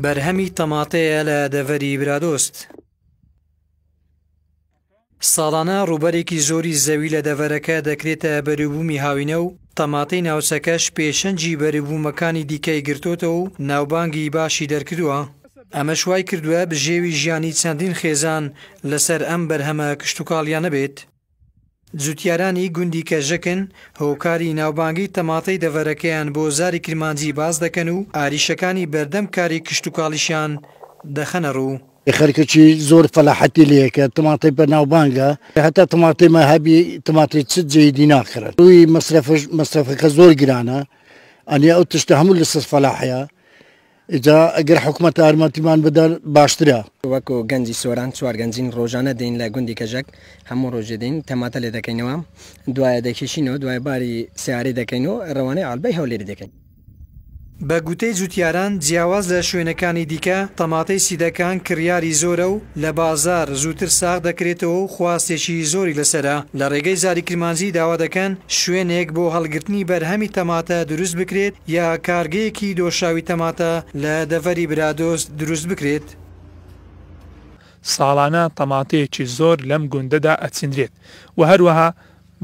بەرهەمی تەماتەیە لە دەڤەری برادۆست. ساڵانە ڕووبەرێکی زۆری زەوی لە دەڤەرەکە دەکرێتە بەروبوومی هاوینە و تەماتەی ناوچەکەش پێشەنجی بەروبوومەکانی دیکەی گرتۆتە و ناوبانگی باشی دەرکردووە ئەمەش وای کردووە بژێوی ژیانی چەندین خێزان لەسەر ئەم بەرهەمە کشتوکاڵیانە بێت. جوتیارانی گوندی کەژەکن هۆکاری ناوبانگی تەماتەی دەڤەرەکەیان بۆ زاری کرمانجی باس دەکەن و ئاریشەکانی بەردەم کاری کشتوکاڵیشیان دەخەنە ڕوو. خەرکەکی زۆر فەلاحەتی لێیەکە تماتەی بە ناوبانگە هەتا تماتەی ما هەبی تماتەی چ جێی دی ناخرن ڕووی مەسرەفش مەسرەفەکە زۆر گرانە ئەنی ئەو تشتە هەموو لەسەر فەلاحە. ئیجا گەر حکومەت ارمەتیمان بدەر باشترە. وەکو گەنجی سۆران چوار گەنجین ڕۆژانە دێین لە گوندی کەژەک هەموو ڕۆژێ دێین تەماتە لێ دەکەینەوە دوایە دەیکێشینەوە دوایە باری سەیارەی دەکەین و ڕەوانەی عەلبەی هەولێری دەکەین. بە گوتەی جوتیاران جیاواز لە شوێنەکانی دیکە تەماتەی سیدەکان کڕیاری زۆرە و لە بازاڕ زووتر ساغ دەکرێتەوە و خواستێکی زۆری لەسەرە، لە ڕێگەی زاری کرمانجی داوا دەکەن شوێنێک بۆ هەڵگرتنی بەرهەمی تەماتە دروست بکرێت، یا کارگەیەکی دۆشاوی تەماتە لە دەڤەری برادۆست دروست بکرێت؟ ساڵانە تەماتەیەکی زۆر لەم گوندەدا ئەچینرێت و هەروەها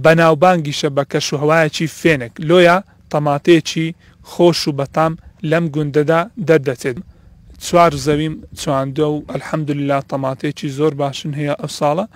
بەناوبانگیشە بە کەشوهەوایەکی فێنک، لۆیە تەماتەیەکی خۆش و بەتام لەم گوندەدا دەردەچێت، چوار زەویم چواندوە و الحمدللە تەماتەیەکی زۆر باشن هەیە ئەوساڵە.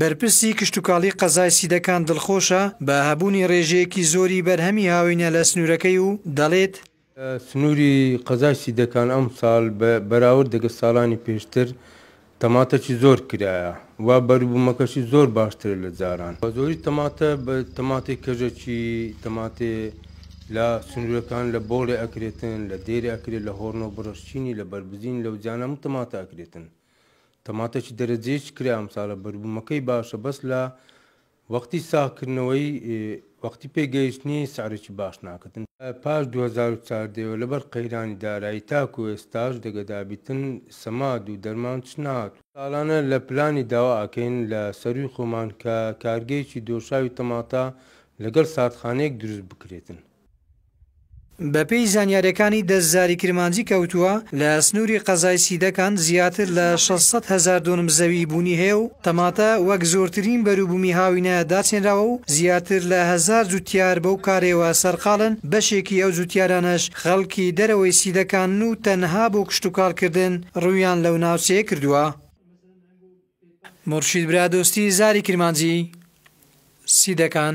بەرپرسی کشتوکاڵی قەزای سیدەکان دڵخۆشە بە هەبوونی ڕێژەیەکی زۆری بەرهەمی هاوینە لە سنوورەکەی و دەڵێت، سنووری قەزای سیدەکان ئەمساڵ بە بەراورد دەگەڵ ساڵانی پێشتر تەماتەکی زۆر کرایە و بەروبوومەکەشی زۆر باشترە لە جاران، بەزۆری تەماتە بە تەماتەی کەژەکی تەماتێ لە سنوورەکان لە بۆڵێ ئەکرێتن، لە دێرێ ئەکرێت، لە هۆرنۆ بڕەشچینی، لە بەربزین، لەوجیانە هەموو تەماتە ئەکرێتن. تەماتە چ دەرەجەی چ کرا ئەمساڵە بەربوومەکەی باشە بەس لە وەختی ساغکردنەوەی وەختی پێگەیشتنی سعرێکی باش ناکەن پاش 2014 لەبەر قەیرانی دارایی تاکو ئێستاش دەگەدابیتن سەماد و دەرمان چ نات ساڵانە لە پلانی داوا ئەکەین لە سەرووی خۆمان کە کارگەیەکی دۆشاوی تەماتە لەگەڵ ساردخانەیەک دروست بکرێتن. بەپێی زانیارییەکانی دەستداری کرمانجی کەوتووە، لە سنووری قەزای سیدەکان زیاتر لە شەش سەد هەزار دۆنم زەویی بوونی هەیە و تەماتە وەک زۆرترین بەروبوومی هاوینە داچێنراوە و زیاتر لە هەزار جوتیار بەو کارەیەوە سەرقاڵن، بەشێکی ئەو جوتیارانەش خەڵکی دەرەوەی سیدەکانن و تەنها بۆ کشتوکاڵکردن روویان لەو ناوچەیە کردووە. مورشید برادۆستی، زاری کرمانجی سیدەکان.